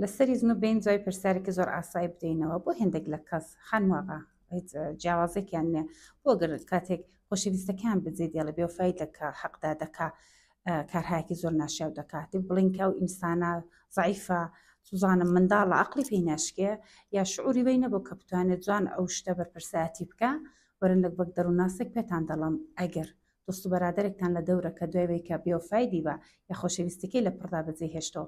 لەسەری زنو بین جوای پرسیارێکی زۆر ئاسایی بدەینەوە بۆ هێندێک لە کەس خانم ئاغا هیچ جیاوازێکیان نیە بۆ گەر کاتێک خۆشەویستەکان بجێ دێڵە بێوفای دەکا حەقدا دەکا کارهایەکی زۆر ناشیاو دەکات دێ بڵین کە ئەو ئینسانە زعیفە سوزانم منداڵە عقلی پێی ناشکێ یا شعوری وی نەبوو کە بتوانێت جوان ئەو شتە بەرپرسایەتی بکە وەرن لەک بەک دەروونناسێک پێتان دەڵم ئەگەر دۆست و بەرادێکتان لە دەورەکە دوای وی کە بێوفای دیبە یا خۆشەویستەکەی لە پڕدا بەجێ هێشتەوە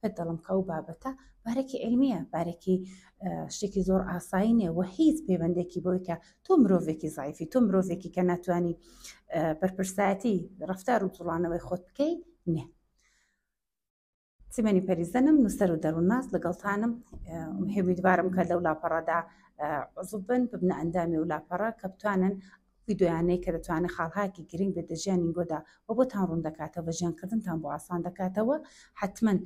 پێت دەڵم کە ئەو بابەتە بارێکی علمیە بارێکی شتێکی زۆر ئاسایی نیە و هیچ پەیوەندێکی بۆی کە تۆ مرۆڤێکی زایفی تۆ مرۆڤێکی کە ناتوانانی بەرپرسایەتی ڕفتار و جوڵانەوەی خۆت بکەی نیە سیمەنی پەریزەنم نووسەر و دەروونناس لەگەڵتانم هێویدوارم کە لەو لاپەڕەدا عزوبن ببنە ئەندامی و لاپەڕە کە بتوانن ڤیدۆیانەی کە دەتوانێت خاڵهایەکی گرنگ بێت لە ژیانی گۆدا وە بۆتان ڕوون دەکاتەوە ژیان کردنتان بۆ ئاسان دەکاتەوە حەتمەن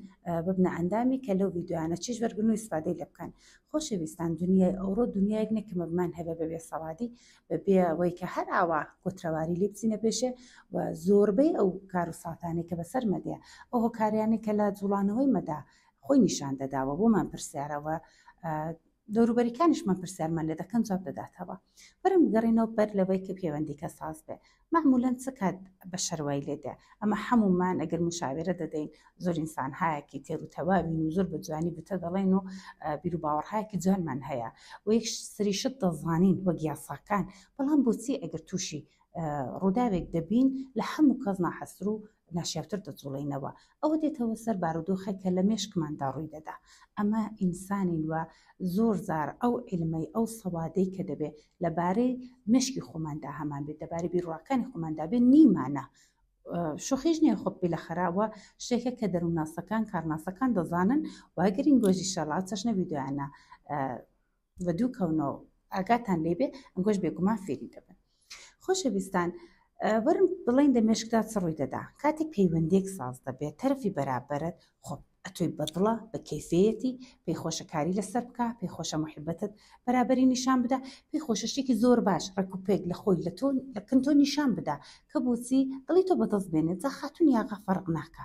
ببنە ئەندامی کە لەو ڤیدۆیانە چێژ وەرگرن و ئیسفادەی لێ بکەن خۆشەویستان دونیای ئەوڕۆ دونیایەک نیە کە مەبمان هەبێ بە بێ سەوادی بە بێ ئەوەی کە هەر ئاوا کۆترەواری لێ بچینە پێشێ و زۆربەی ئەو کار و ساتانەی کە بەسەر مەدەیە ئەو هۆکاریانەی کە لە جوڵانەوەی مەدا خۆی نیشان دەداوە بۆمان پرسیارەوە دەوروبەریکانیشمان پرسیارمان لێ دەکەن جواب دەداتەوە برن بگەڕێنەوە بەر لەوەی کە پێوەندیکە ساز بێ مەعمولەن چ کات بەشەر وای لێ دێ ئەمە حەموومان ئەگەر موشاویرە دەدەین زۆر ئینسانهایەکی تێر و تەواوین و زۆر بە جوانی بتە دەڵێن و بیروباوەڕهایەکی جوانمان هەیە و یەک سری شت دەزانین وەک یاساکان بەڵام بۆچی ئەگەر تووشی ڕووداوێک دەبین لە هەموو کەس ناحەسر و ناشیاوتر دەجوڵێینەوە ئەوە دێتەوە سەر بارودۆخێک کە لە مێشکماندا ڕووی دەدا ئەمە ئینسانین و زۆر زار ئەو علمەی ئەو سەوادەی کە دەبێ لەبارەی مشکی خۆماندا هەمان بێت دەبارەی بیرڕاکانی خۆماندا بێ نیمانە شوخیش نیە خۆ پێ لە خراوە شتێکە کە دەروونناسەکان کارناسەکان دەزانن واگەرین گۆژی شەڵا چەشنە ویددیوانە و دوو کەونەوە ئاگاتان لێ بێ ئەنگۆش بێگومان فێری دەبن خۆشەویستان وەرم بڵین دە مێشکدا چ ڕووی دەدا کاتێک پەیوەندێک ساز دەبێت تەرفی بەرابەرت خۆ ئەتۆی بەدڵە بە کەیفەتی پێی خۆشەکاری لەسەر بکە پێی خۆشە مححبەتت بەرابری نیشان بدا پێی خۆشە شتێکی زۆر باش ڕێکوپێک لە خۆی لە تۆ لەکن تۆ نیشان بدا کە بۆچی دڵی تۆ بەدڵ بێنێت جا خاتون یاغا فەرق ناکە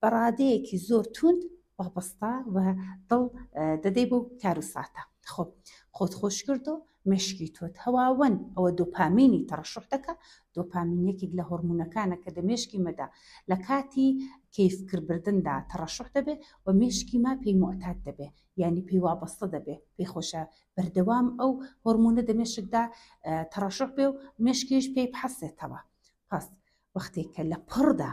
بە ڕادەیەکی زۆر توند وابەستا و دڵ دەدەی بۆ کار و ساتە خۆ خۆت خۆش کردو مشکی تۆت هەواون ئەوە دۆپامینی تەڕشح دەکە دۆپامینێکێک لە هۆرمونونەکانە کە دە مێشکی مەدا لە کاتی کەیفکردبردندا تەڕشح دەبێت و مێشکی ما پێی معتاد دەبێ ینی پێی وابەستە دەبێ پێی خۆشە بەردەوام ئەو هۆرمونە دە مێشکدا تەڕشح بێ و مێشکیش پێی بحەسێتەوە پس وەختێک کە لە پڕدا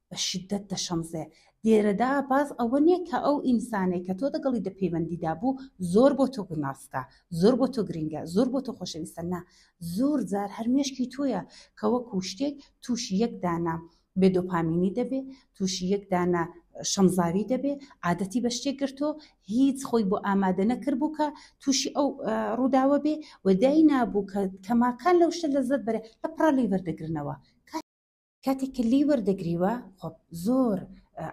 بە شیدەت دەشەمزێ. لێرەدا باس ئەوە نیە کە ئەو ئینسانەی کە تۆ دەگەڵی دە پەیوەندیدا بوو زۆر بۆ تۆ گوناسکە، زۆر بۆ تۆ گرینگە، زۆر بۆ تۆ خۆشەویستە نا، زۆر جار هەر مێشکی تۆیە کە وەکوو شتێک تووشی یەک دانە بێ دۆپامینی دەبێ، تووشی یەک دانە شەمزاوی دەبێ، عادەتی بە شتێک گرتۆ هیچ خۆی بۆ ئامادە نەکردبوو کە تووشی ئەو ڕووداوە بێ و داینابوو کە کەماکان لەو شتە لەزەت بەرێ لە پڕا لێی وەردەگرنەوە. کاتێک کە لێی وەردەگریوە خۆ زۆر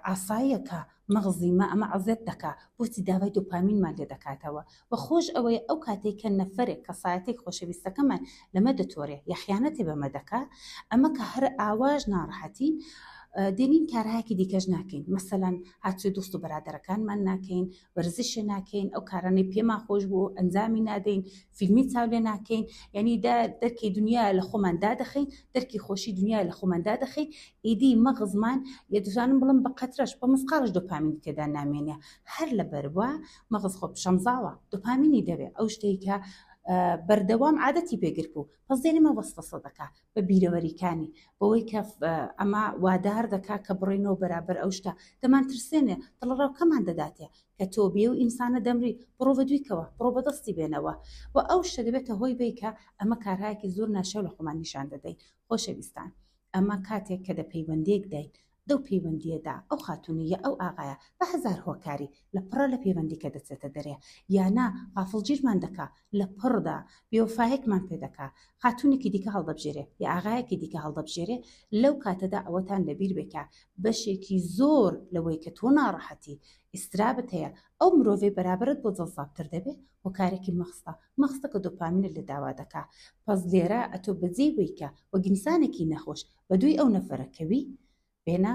ئاساییە کە مەغزی مە ئەمە عزێت دەکا بۆچی داوای دوپامینمان لێ دەکاتەوە و خۆش ئەوەیە ئەو کاتێک کە نەفرێک کەسایەتێک خۆشەویستەکەمان لەمە دەتۆرێ یاخیانەتی بەمە دەکا ئەمە کە هەر ئاواش ناڕحەتین دێنین کارهاکی دیکەش ناکەین مەسەەن هاچی دوست و بەرادەرەکانمان ناکەین وەرزشە ناکەین ئەو کارانەی پێما خۆش بۆ ئەنجامی نادەین فیلمی چاو لێ ناکەین یعنی دەرکی دنیا لە خۆمان دادەخین دەرکی خۆشی دنیا لە خۆمان دادەخین ئیدی مەغزمان لە دژانم بڵم بە قەترەش بە مسقالش دۆپامین تێدا نامێنێ هەر لە بەروە مەغز خۆ شەمزاوە دۆپامینی دەوێ ئەو شتێکە بەردەوام عادەتی پێگرت بوو پس دێنمە وەسوەسە دەکا بە بیرەوەریکانی، بەوەی کە ئەمە وادار دەکا کە بڕینەوە بەرابەر ئەو شتە، دەمانترسێنێ، دڵەڕاوکەمان دەداتێ کە تۆ بێ و ئینسانە دەمری، بڕۆ بە دویکەوە، بڕۆ بەدەستی بێنەوە و ئەو شتە دەبێتە هۆی بیکە، ئەمە کارهایەکی زۆر ناشیاو لە خۆمان نیشان دەدەین. خۆشەویستان، ئەمە کاتێک کە دە پەیوەندێکداین، لەو پەیوەندییەدا ئەو خاتوونە یا ئەو ئاغایە بە هەزار هۆکاری لە پڕە لە پەیوەندیکە دەچێتە دەرێ یا نا غافڵگیرمان دەکا لە پڕدا بێوەفایەکمان پێ دەکا خاتوونێکی دیکە هەڵدەبژێرێ یا ئاغایەکی دیکە هەڵدەبژێرێ لەو کاتەدا ئەوەتان لەبیر بێ کە بەشێکی زۆر لەوەی کە تۆ ناڕەحەتی ئیسترابت هەیە ئەو مرۆڤەی بەرابەرت بۆ جەزابتر دەبێ هۆکارێکی مەخستە مەخستەکە دۆپامینت لە داوا دەکا پەس لێرە ئەتۆ بەجێی وەی کە وەک ئینسانێکی نەخۆش بەدووی ئەو نەفەرە کەوی بێنە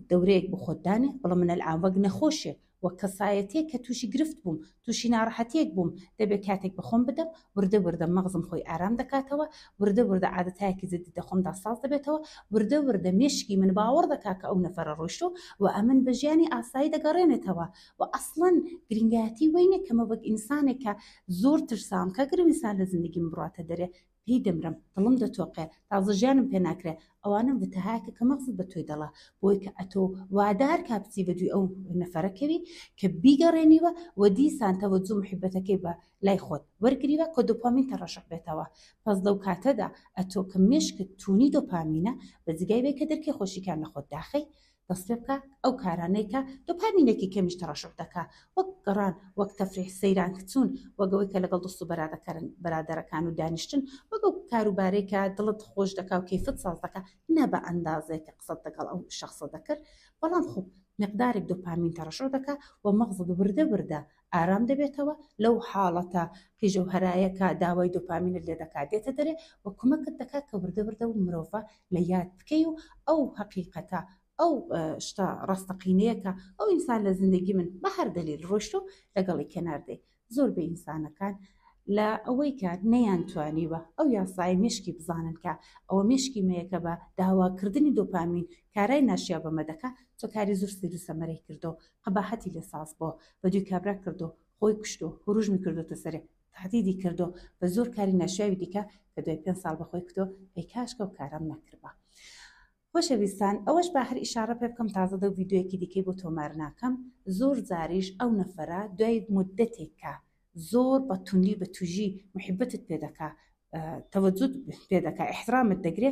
دەورەیەک بۆ خۆت دانێ بڵێ من ئەلعان وەک نەخۆشێک وەک کەسایەتیەک کە تووشی گرفت بووم تووشی ناڕەحەتیەک بووم دەبێ کاتێک بە خۆم بدەم وردە وردە مەغزم خۆی ئارام دەکاتەوە وردە وردە عادەتایەکی جدی دە خۆمدا ساز دەبێتەوە وردە وردە مێشکی من باوەڕ دەکا کە ئەو نەفەرە ڕۆیشتووە و ئەمن بە ژیانی ئاسایی دەگەڕێنێتەوە و ئەسڵەن گرینگایەتی وەی نیە کە من وەک ئینسانێک کە زۆر ترسام کە گەر ئینسان لە زیندگیم بڕاتە دەرێ هی دەمرم دڵم دەتۆقێ تازە ژیانم پێ ناکرێ ئەوانم وتە هاکە کە مەغزت بە تۆی دەڵا بۆی کە ئەتۆ وادە هەر کا بچی بە دووی ئەو نەفەرە کەوی کە بیگەڕێنیوە و دیسان تەوەجو محیبەتەکەی بە لای خۆت وەرگریوە کە دۆپامینتە ڕەشق بێتەوە پەس لەو کاتەدا ئەتۆ کە مێشکت تونی دۆپامینە بە جگای وەی کە درکەی خۆشیکان لە خۆت داخەی دەستپێبکە ئەو کارانەی کە دۆپامینێکی کەمیش تەڕەشح دەکا وەک گەڕان وەک تەفریح سەیران کچوون وەک ئەوەی کە لەگەڵ دۆست و بەرادەکەرن برادەرەکان و دانیشتن وەک ئەو کارو بارەی کە دڵت خۆش دەکا و کەیفت ساز دەکا نا بە ئەندازەی کە قسەت لەگەڵ ئەو شەخسە دەکرد بەڵام خۆ مقدارێک دۆپامین تەڕەشح دەکا و مەغزت وردە وردە ئارام دەبێتەوە، لەو حاڵەتە قیژە و هەرایە کە داوای دۆپامینت لێ دەکات دێتە دەرێ و کمەکت دەکات کە وردە وردە ئەو مرۆڤە لە یاد بکەی و ئەو هەقیقەتە ئەو شتە ڕاستەقینەیە کە ئەو ئینسان لە زندگی من بە هەر دەلیل ڕۆیشتە و لەگەڵی کەنار دێ. زۆر بەی ئینسانەکان لە ئەوەی کە نەیان توانیوە ئەو یاسایە مێشکی بزانن کە ئەوە مێشکی مەیە کە بە داوا کردنی دۆپامین کارای ناشیاو بە مە دەکا چ کاری زۆر سەیر و سەمەرەی کردەوە قەباحەتی لێ ساز بۆ بە دوی کابرا کردۆ خۆی کوشتۆ هوروژمی کردۆتە سەرێ تەهدیدی کردۆ بە زۆر کاری ناشیاوی دیکە کە دوای پێنج ساڵ بە خۆی کتۆ ئەی کاشکە ئەو کارەم نەکردبا خۆشەویستان ئەوەش با هەر ئیشارە پێ بکەم تازە دەو ڤیدیۆیەکی دیکەی بۆ تۆمار ناکەم زۆر جاریش ئەو نەفەرە دوای مدەتێک کە زۆر بە توندی بە توژی محبتت پێ دەکا تەوەجود پێ دەکا احترامت دەگرێ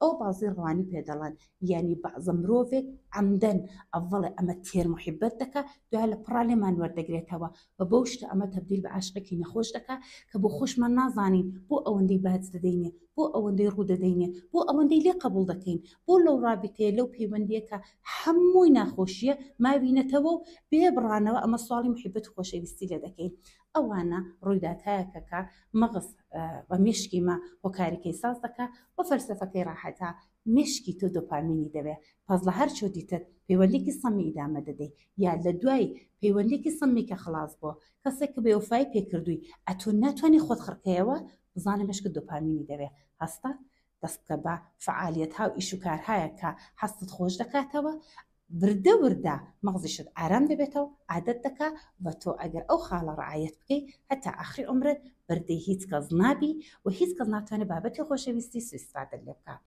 ئەو بەعزی ڕەوانی پێ دەڵێن یانی بەعزە مرۆڤێک عەمدەن ئەڤڵێ ئەمە تێر محیبەت دەکا دوای لە پڕا لێمان وەردەگرێتەوە و بەو شتە ئەمە تەبدیل بە عاشقێکی نەخۆش دەکا کە بۆ خۆشمان نازانین بۆ ئەوەندەی باج دەدەینێ بۆ ئەوەندەی ڕوو دەدەینێ بۆ ئەوەندەی لێ قەبوڵ دەکەین بۆ لەو ڕابیتەیە لەو پەیوەندیە کە هەمووی ناخۆشیە ماوینەتەوە و بێ بڕانەوە ئەمە سواڵی محیبەت و خۆشەویستی لێ دەکەین ئەوانە ڕویداتایەکە کە مەغز و مێشکی مە هۆکاریکەی ساز دەکا و فەلسەفەکەی ڕاحەتە مێشکی تۆ دۆپامینی دەوێ پەس لە هەر چۆ دیتت پەیوەندیکی سەمی ئیدامە دەدەی یا لە دوای پەیوەندیکی سەمی کە خڵاس بۆ کەسێک کە بێوەفایی پێ کردووی ئەتۆ ناتوانی خۆت خڕکەیەوە بزانە مێشکت دۆپامینی دەوێ هەستە دەست بکە بە فەعالیەتها و ئیش و کارهایەک کە حەزتت خۆش دەکاتەوە، وردە وردە مەغزیشت ئارام دەبێتەوە، عادەت دەکا و تۆ ئەگەر ئەو خاڵە رەعایەت بکەی هەتا ئاخری عومرت بەردەی هیچ کەس نابی و هیچ کەس ناتوانێ بابەتی خۆشەویستی سویستفادەت لێ بکا.